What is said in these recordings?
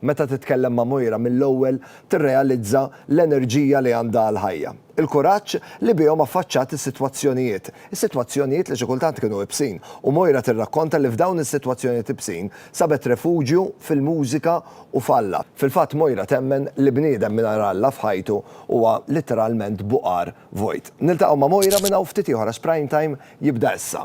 Meta titkellem ma' mojra mill-ewwel tirrealizza l-enerġija li għandha għall-ħajja. Il-kuraġġ li bihom affaċċat is-sitwazzjonijiet. Is-sitwazzjonijiet li xi kultant kienu ibsin. U Mojra tirrakkonta li f'dawn is-sitwazzjonijiet ibsin sabet refuġju fil-mużika u f'Alla. Fil-fatt Mojra temmen li bniedem mingħajr Alla f'ħajtu huwa litteralment buqar vojt. Niltaqgħu ma' Mojra minn hawn ftit ieħor għax Prime Time jibda issa.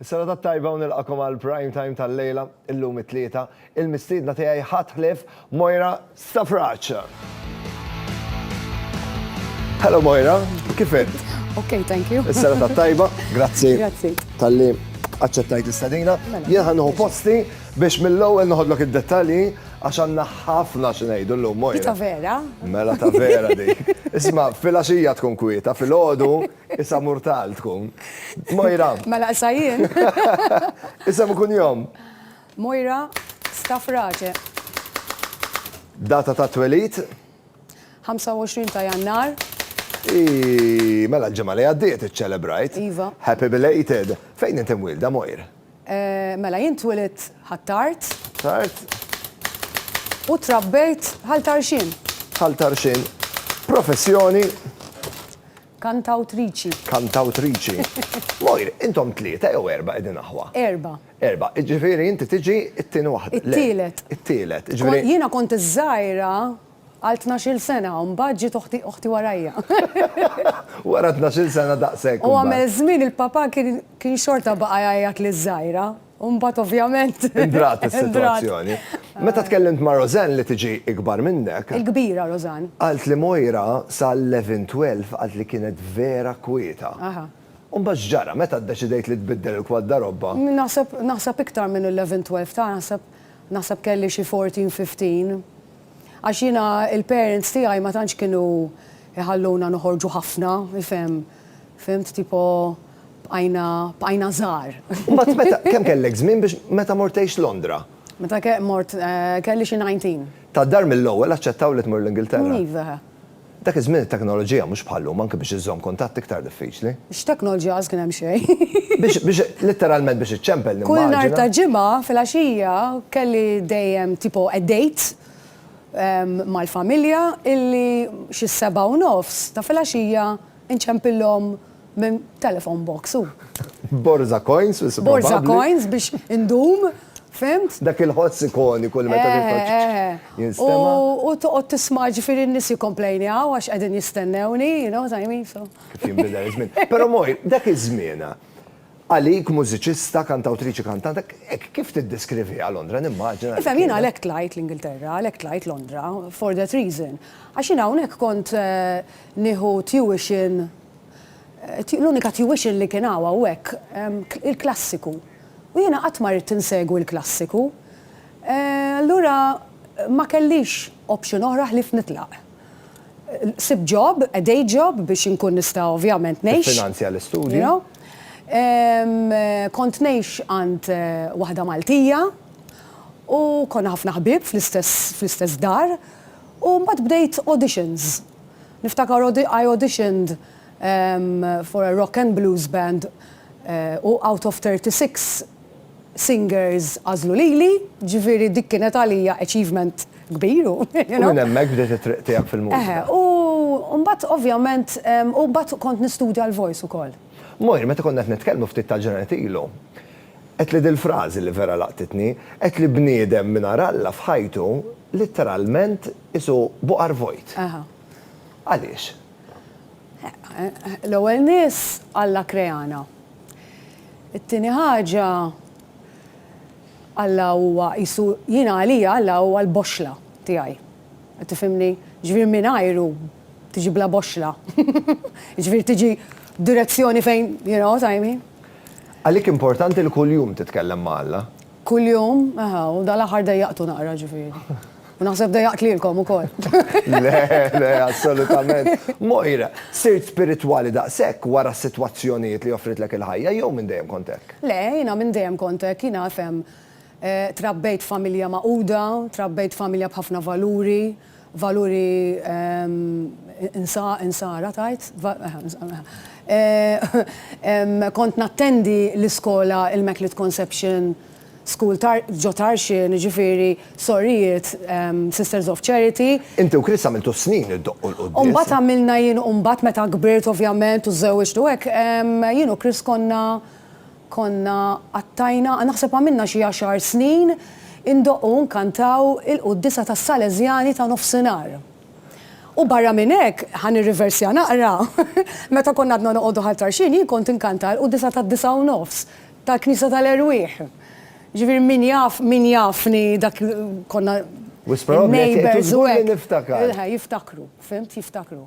Is-serata t-tajba u nilqakom għal prime time tal-lejla, illum it-Tlieta. Il-mistiedna tiegħi ħadd ħlief Moira Stafrace. Hello Moira, kif int? Ok, thank you. Is-serata t-tajba, grazzi. Grazzi. Talli aċċettajt l-istadina. Mela. Jien ħannuħu posti biex mill-ewwel noħodlok id-dettalji għax għandna ħafna xi ngħidu llum Moira. Ta' vera? Mela ta' vera dik. Isma' fil-għaxija tkun kwieta, fil-għodu Isem murtal tkun. Mojra. Ma naqsa jien. Isem u kunjom. Mojra Stafrace. Data ta' twelid? 25 ta' Jannar. Mela l-ġimgħa li għaddiet iċċelebrajt. Iva. Happy belated. Fejn inti mwilda Mojr? Mela jien twilidt Ħ'Attard. Ħ'Attard. U trabbejt Ħal Tarxien. Ħal Tarxien. Professjoni? Kantawtriċi. Kantawtriċi. Mojr, intom tlieta jew erba' qegħdin aħwa? Erba'. Erba'. Ġifieri inti tiġi t-tieni waħda. It-tielet. It-tielet. Jiena kont iż-żgħira Għal tnax-il sena, u mbagħad ġiet oħti, oħti warajja. Wara tnax-il sena daqshekk. U għamel żmien il-papà kien, kien xorta baqa' jgħajjat liż-żgħira, u mbagħad ovvjament. Indrat is-sitwazzjoni. Meta tkellimt ma' Roseanne li tiġi ikbar minnek. Il-kbira Roseanne. Qalt li Moira sa 11, 12 qalt li kienet vera kwieta. Aha. U mbagħad x'ġara meta ddeċidejt li tbiddel il-kwaddarobba? Naħseb, naħseb iktar minn 11, 12 ta' naħseb, naħseb kelli xi 14, 15. Għax jiena il-parents tiegħi ma tantx kienu jħalluna noħorġu ħafna, ifhem, fhimt, tipo bqajna bqajna żgħar. Mbagħad meta kemm kellek żmien biex meta mort tgħix Londra? Meta ke mort kelli xi nineteen. Tad-dar mill-ewwel aċċettaw li tmur l-Ingilterra? Iva. Dak iż-żmien it-teknoloġija, mhux bħal-lum, anke biex iżżomm kuntatt iktar diffiċli. X'teknoloġija għax kien hemm xejn. Biex, biex, litteralment biex iċċempel nimmaġina. Kull nhar ta' Ġimgħa filgħaxija kelli dejjem tipo a date mal-familja illi xi s-sebgħa u nofs ta' filgħaxija Inċempillhom minn telephone box u. Borża coins biss probabbli. Borża coins biex indum, fhimt? Dak il-ħoss ikoniku li meta tittoċċ jinstema'. U toqgħod tisma' ġifieri n-nies jikkomplejnjaw għax qegħdin jistennewni, you know what I mean, so. Kif jinbidel iż-żmien. Però Mojn, dak iż-żmienha, Għalik, mużiċista, kantawtriċi kantanta, hekk kif tiddeskriviha Londra, nimmaġina. Ifhem, jiena għalhekk tlajt l-Ingilterra, għalhekk tlajt Londra, for that reason. Għax jiena hawnhekk kont nieħu tuition, l-unika tuition li kien hawn hawnhekk, il-klassiku. U jiena qatt ma ridt insegwi l-klassiku. Allura ma kellix option oħra ħlief nitlaq. Sibt job, a day job biex inkun nista' ovvjament ngħix. Tiffinanzja l-istudji. You know? Kont ngħix għand waħda Maltija u konna ħafna ħbieb fl-istess dar u mbagħad bdejt auditions. Niftakar I auditioned for a rock and blues band u out of 36 singers għażlu lili, ġifieri dik kienet għalija achievement kbir u you know. U minn hemmhekk bdiet it-triq tiegħek fil-mużika. Eħe, u mbagħad ovvjament, u mbagħad kont nistudja l-voice ukoll. Moira, meta konna qed nitkellmu ftit tal-ġranet ilu, għedtli dil-frażi li vera laqtitni, għedtli bniedem mingħajr Alla f'ħajtu litteralment qisu buqar vojt. Eħe. Għaliex? L-ewwel nies Alla kreana. It-tieni ħaġa, Alla huwa qisu, jiena għalija Alla huwa l-boxxla tiegħi. Qed tifhimni? Jiġifieri mingħajru tiġi bla boxxla. Jiġifieri tiġi direzzjoni fejn, you know what I mean? Għalik importanti li kuljum titkellem ma' Alla? Kuljum, aha, u dan l-aħħar dejjaqtu naqra ġifieri. U naħseb dejjaqt lilkom ukoll. Le, le, assolutament. Moira, sirt spiritwali daqshekk wara s-sitwazzjonijiet li offritlek il-ħajja jew minn dejjem kont hekk? Le, jiena minn dejjem kont hekk, jiena fhem, trabbejt f'familja magħquda, trabbejt f'familja b'ħafna valuri, valuri Insara tgħid? Kont nattendi l-iskola Immaculate Conception School ġo Tarxien, jiġifieri sorijiet Sisters of Charity. Inti u Chris għamiltu s-snin iddoqqu l-quddiesa. U mbagħad għamilna jien u mbagħad meta kbirt ovvjament u żżewwiġt u hekk, jien u Chris konna, Konna qattajna, naħseb għamilna xi għaxar snin, indoqqu u nkantaw il-quddiesa tas-Salesjani ta' Nofsinhar. U barra minn hekk, ħa nirriversja naqra, meta konna għadna noqogħdu Ħal Tarxien jien kont inkanta l-quddiesa tad-disgħa u nofs tal-Knisja tal-Erwieħ. Ġifieri min jaf, min jafni dak konna neighbours u hekk. Wisq probabbli qed iżgurni niftakar. Jiftakru, fhimt, jiftakru.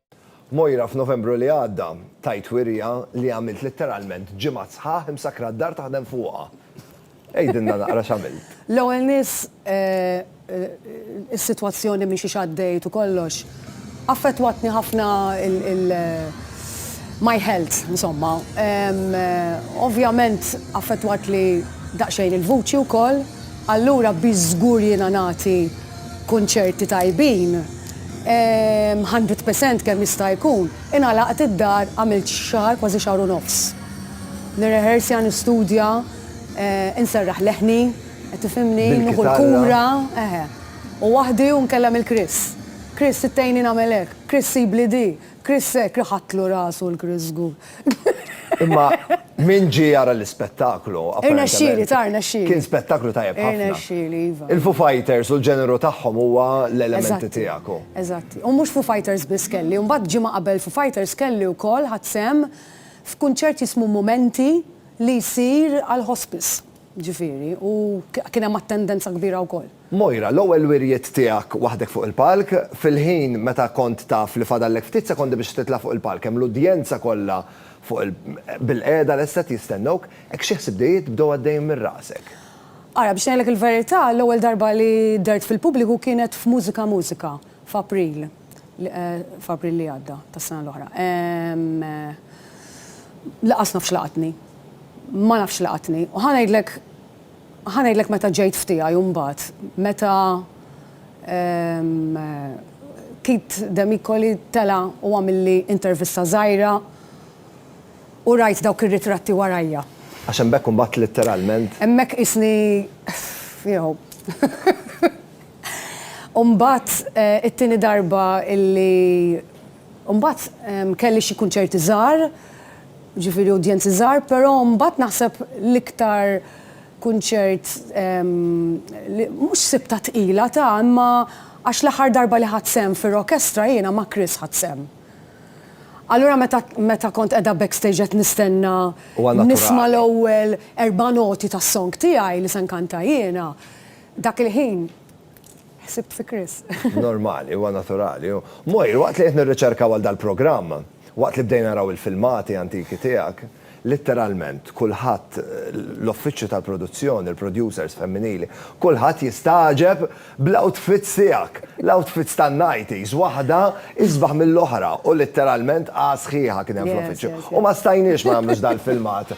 Moira f'Novembru li għadda, tajt wirja li għamilt litteralment ġimgħat sħaħ imsakkra d-dar taħdem fuqha. Għidilna naqra x'għamilt. L-ewwel nies, is-sitwazzjoni minn xiex għaddejt u kollox, affettwatni ħafna il, my health, insomma. Ovvjament affettwatli daqsxejn il-vuċi wkoll. Allura biex żgur jiena nagħti kunċerti tajbin, hundred percent kemm jista' jkun, ingħalaqt id-dar għamilt xahar kważi xahar u nofs. Nirrehersja, nistudja, inserraħ leħni, qed tifhimni, nieħu l-kura, eħe. U waħdi u nkellem lil Chris. Chris, tgħinni nagħmel hekk, Chris sibli di, Chris hekk, iħattlu rasu l-Chris żgur. Imma min ġi jara l-ispettaklu. Irna xili, tarna xili. Kien spettaklu tajjeb ħafna. Irna xili, iva. Il-Foo Fighters u l-ġeneru tagħhom huwa l-elementi tiegħek. Eżatt. U mhux Foo Fighters biss kelli, u mbagħad ġimgħa qabel Foo Fighters kelli wkoll ħadd sehem f'kunċert jismu Momenti li jsir għall-hospice. Ġifieri, u kien hemm attendenza kbira wkoll. Moira, l-ewwel wirjiet tiegħek waħdek fuq il-palk, fil-ħin meta kont taf li fadallek ftit sekondi biex titla' fuq il-palk, hemm l-udjenza kollha fuq il bil-qiegħda lesta qed jistennewk, hekk xi ħsibdijiet bdew għaddejjin minn rasek? Ara, biex ngħidlek il-verità, l-ewwel darba li dhert fil-pubbliku kienet f'Mużika Mużika, f'April f'April li għadda tas-sena l-oħra. Laqas naf x'laqatni. Ma nafx x'laqatni. U ħa ngħidlek ħa ngħidlek meta ġejt f'tiegħi u mbagħad meta Keith Demicoli tela' u għamilli intervista żgħira u rajt dawk ir-ritratti warajja. Għax hemmhekk imbagħad litteralment. Hemmhekk qisni you know. U mbagħad it-tieni darba illi u mbagħad kelli xi kunċerti żgħar, jiġifieri udjenzi żgħar, però mbagħad naħseb l-iktar kunċert li mhux sibtha tqila ta' imma għax l-aħħar darba li ħadt sehem fir-rokestra jiena ma' Chris ħadt sehem. Allura meta meta kont qiegħda backstage qed nistenna nisma' l-ewwel erba' noti tas-song tiegħi li se nkanta jiena, Dak il-ħin ħsibt fi Chris. Normali, huwa naturali. Moir, waqt li qed nirriċerka għal dal-programm, waqt li bdejna naraw il-filmati antiki tiegħek, litteralment kulħadd, l-uffiċċju tal-produzzjoni, il-producers femminili, kulħadd jistagħġeb bl-outfits tiegħek. L-outfits tan-nighties, waħda isbaħ mill-oħra u litteralment A sħiħa kien hemm fl-uffiċċju. U ma stajniex ma nagħmlux dal-filmat.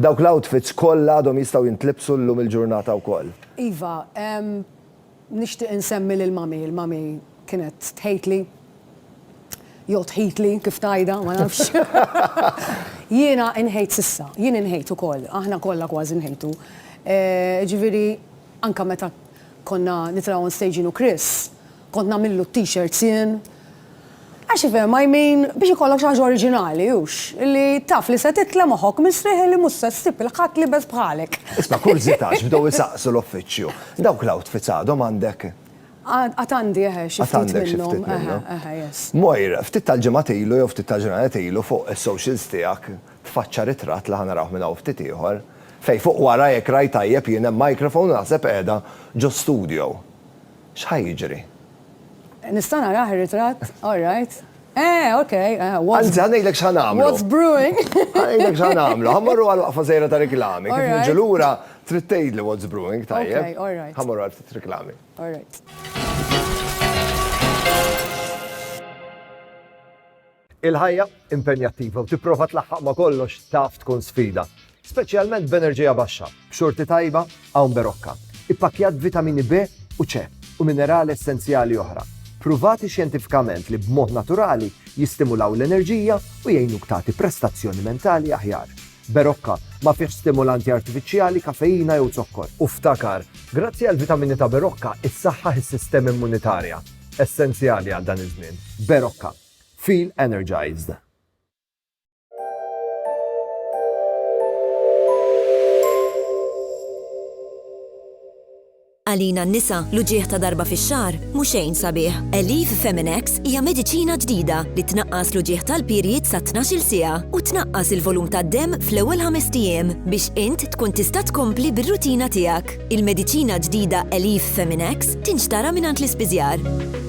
Dawk l-outfits kollha għadhom jistgħu jintlibsu llum il-ġurnata wkoll. Iva, nixtieq insemmi lil Mummy, il-Mummy kienet tħejtli, jew tħitli kif tgħidha, ma nafx. Jiena inħejt s'issa, jien inħejt ukoll, aħna kollha kważi nħejtu. Jiġifieri anke meta konna nitilgħu on stage jien u Chris, Kont nagħmillu t-t-shirts jien. Għax ifhem I mean, biex ikollok xi ħaġa oriġinali, hux? Li taf li se titla' moħħok mistrieħ li mhux se ssib 'il ħadd liebes bħalek. Isma' kurżità x'bdew isaqsu l-uffiċċju. Dawk l-outfits għadhom għandek? Għad għandi eħe xi ftit minnhom. Għad għandek xi ftit minnhom. Eħe eħe yes. Mojr, ftit tal-ġimgħat ilu jew ftit tal-ġranet ilu fuq is-socials tiegħek tfaċċa ritratt li ħa narawh minn hawn ftit ieħor, fejn fuq wara jekk rajt tajjeb jien hemm microphone u naħseb qiegħda ġo studio. X'ħa jiġri? Nista' narah ir-ritratt? All right. Eh, ok. Anzi, ħa ngħidlek x'ħa nagħmlu. What's brewing? Ħa ngħidlek x'ħa nagħmlu. Ħa mmorru għal waqfa żgħira ta' riklami. Kif niġu lura, trid tgħidli what's brewing, tajjeb? Ok, all right. Ħa mmorru għal ftit riklami. All right. Il-ħajja impenjattiva u tipprova tlaħħaq ma' kollox taf tkun sfida, speċjalment b'enerġija baxxa. B'xorti tajba hawn berokka, ippakkjat b'vitamini B u C u minerali essenzjali oħra, ppruvati xjentifikament li b'mod naturali jistimulaw l-enerġija u jgħinuk tagħti prestazzjoni mentali aħjar. Berokka ma fihx stimulanti artifiċjali, kafeina jew zokkor. U ftakar, grazzi għall-vitamini ta' Berokka, issaħħaħ is-sistema immunitarja, essenzjali għal dan iż-żmien. Berokka. Feel Energized! Għalina n-nisa, l-uġigħ ta' darba fix-xahar mhu xejn sabiħ. Elif Feminex hija mediċina ġdida li tnaqqas l-uġigħ tal-period sa 12-il siegħa u tnaqqas il-volum tad-demm fl-ewwel ħamest ijiem biex int tkun tista' tkompli bir-rutina tiegħek. Il-mediċina ġdida Elif Feminex tinxtara mingħand l-ispiżjar.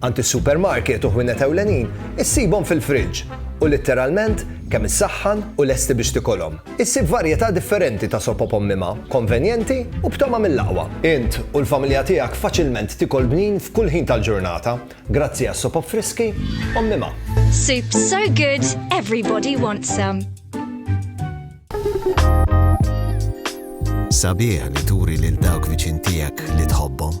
Għand is-supermarket u ħwienet ewlenin issibhom fil-friġġ u litteralment kemm issaħħan u lesti biex tikolhom. Issib varjetà differenti ta' sopop ommima, konvenjenti u b'togħma mill-aqwa. Int u l-familja tiegħek faċilment tikol bnin f'kull ħin tal-ġurnata grazzi għas-sopop friski ommima. Soup so good, everybody wants some. Sabiħ li turi lil dawk viċin tiegħek li tħobbhom.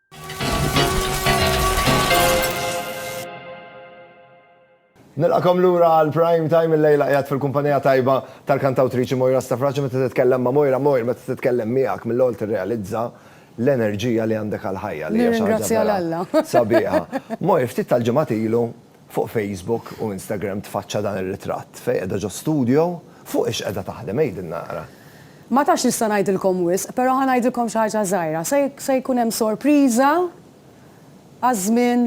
Nilqakom lura għal prime time il-lejla qiegħed fil-kumpanija tajba tal-kantawtriċi Moira Stafrace meta titkellem ma' Moira Moira meta titkellem miegħek mill-ewwel tirrealizza l-enerġija li għandek għall-ħajja li hija xi ħaġa vera sabiħa. Moira ftit tal-ġimgħat ilu Fuq Facebook u Instagram tfaċċa dan ir-ritratt, fejn qiegħda ġo studjo, fuq ix qiegħda taħdem għidilna naqra. Ma tafx nista' ngħidilkom wisq, però ħa ngħidilkom xi ħaġa żgħira, se jkun hemm sorpriża għaż-żmien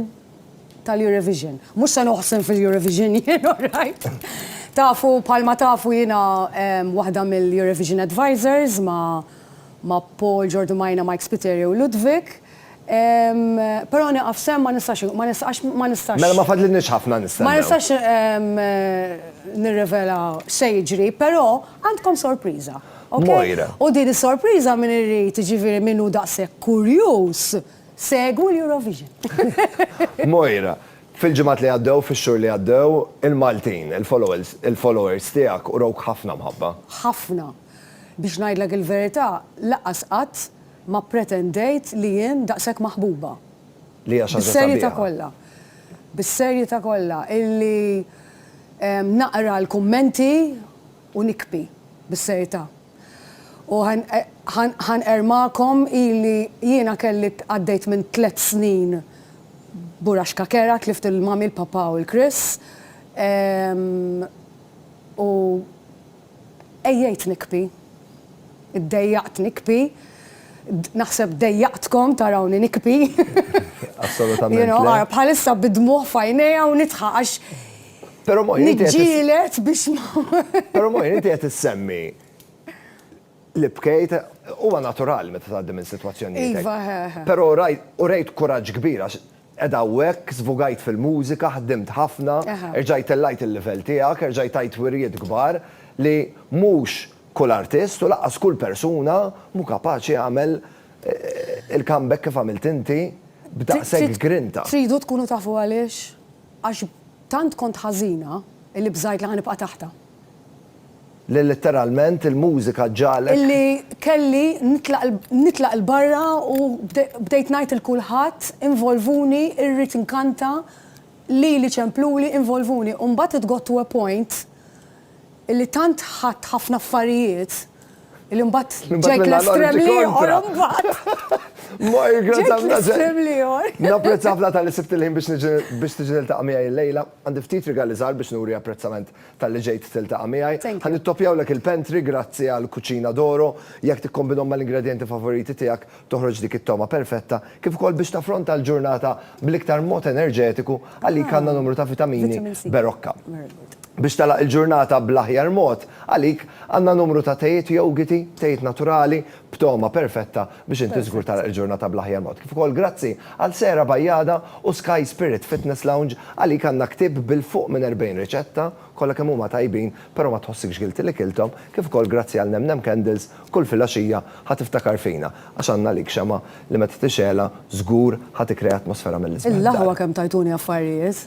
tal-Eurovision. Mhux se noħsem fil-Eurovision jien orajt. Tafu bħalma tafu jiena waħda mill-Eurovision Advisers ma' Paul, Ġordu Majna, Mike Spiteri u Ludwig. Però nieqaf sehem ma nistax, ma nistax, ma nistax. Mela ma fadlilniex ħafna nistennew. Ma nistax nirrivela x'se jiġri, però għandkom sorpriża, ok? Moira. U din is-sorpriża min irid, jiġifieri min hu daqshekk kurjuż, segwu l-Eurovision. Moira, fil-ġimgħat li għaddew, fix-xhur li għaddew, il-Maltin, il-followers, il-followers tiegħek urawk ħafna mħabba. Ħafna. Biex ngħidlek il-verità, lanqas qatt Ma pretendejt li jien daqshekk maħbuba. Li hija xi ħaġa sabiħa. Bis-serjeta' kollha. Bis-serjeta' kollha illi naqra l-kummenti u nikbi. Bis-serjeta'. U ħa nqerr magħkom ili jiena kelli għaddejt minn tliet snin buraxka kerha, tlift il-Mummy, il-Papà u l-Chris. U Għejjejt nikbi. Iddejjaqt nikbi. Naħseb dejjaqtkom tarawni nikbi. Assolutament. You know, ara bħalissa bid-dmugħ f'għajnejja u nidħaq għax niġġieled biex ma. Però Moira, inti qed issemmi li bkejt, huwa naturali meta tgħaddi minn sitwazzjonijiet. Iva, eħe. Però u rejt kuraġġ kbir għax Qegħda hawnhekk, żvugajt fil-mużika, ħdimt ħafna, erġajt tellajt il-livell tiegħek, erġajt tajt wirjiet kbar li mhux kull artist u lanqas kull persuna mhu kapaċi jagħmel il-comeback kif għamilt inti b'daqshekk grinta. Tridu tkunu tafu għaliex? Għax tant kont ħażina li bżajt li ħa nibqa' taħtha. li litteralment il-mużika ġagħlek. Illi kelli nitlaq 'l barra u bdejt ngħid 'il kulħadd, involvuni, irrid inkanta, lili ċempluli, involvuni. U mbagħad it got to a point illi tant ħadt ħafna affarijiet illi mbagħad ġejt l-estrem l-ieħor imbagħad. Ġejt l-estrem l-ieħor. Napprezza ħafna talli sibt il-ħin biex tiġi niltaqa' miegħi llejla. Għandi ftit rigali żgħar biex nuri apprezzament. Talli ġejt tiltaqa' miegħi. Ħa nittoppjawlek il-pantry grazzi għall-Cucina d'Oro. Jekk tikkombinhom mal-ingredjenti favoriti tiegħek, toħroġ dik it-togħma perfetta, kif ukoll biex taffronta l-ġurnata bl-iktar mod enerġetiku, għalik għandna numru ta' vitamini Berocca. Biex tagħlaq il-ġurnata bl-aħjar mod, għalik għandna numru ta' tejiet jogiti, tejiet naturali, b'togħma perfetta biex inti żgur tagħlaq il-ġurnata bl-aħjar mod. Kif ukoll grazzi għal Sehra Bajjada u Sky Spirit Fitness Lounge, għalik għandna ktieb bil-fuq minn 40 riċetta, kollha kemm huma tajbin, però ma tħossikx guilty li kilthom, kif ukoll grazzi għal Nem Nem Candles, kull filgħaxija ħa tiftakar fina, għax għandna għalik xemgħa li meta tixgħelha żgur ħa tikkrea atmosfera mill-isbaħ f'darek. L-aħwa kemm tajtuni affarijiet!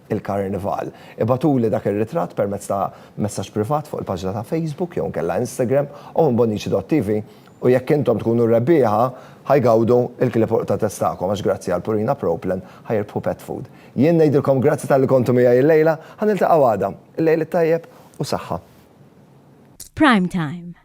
il-Karnival. Ibagħtuli dak ir-ritratt permezz ta' messaġġ privat fuq il-paġna ta' Facebook jew inkella Instagram u minn Bonnici.tv u jekk intom tkunu r-rebbieħa ħa jgawdu l-klipuq ta' test tagħkom għax grazzi għal Purina Pro Plan ħa jirbħu pet food. Jien ngħidilkom grazzi talli kontu miegħi illejla, ħa niltaqgħu għada. Illejl it-tajjeb u saħħa. Prime Time.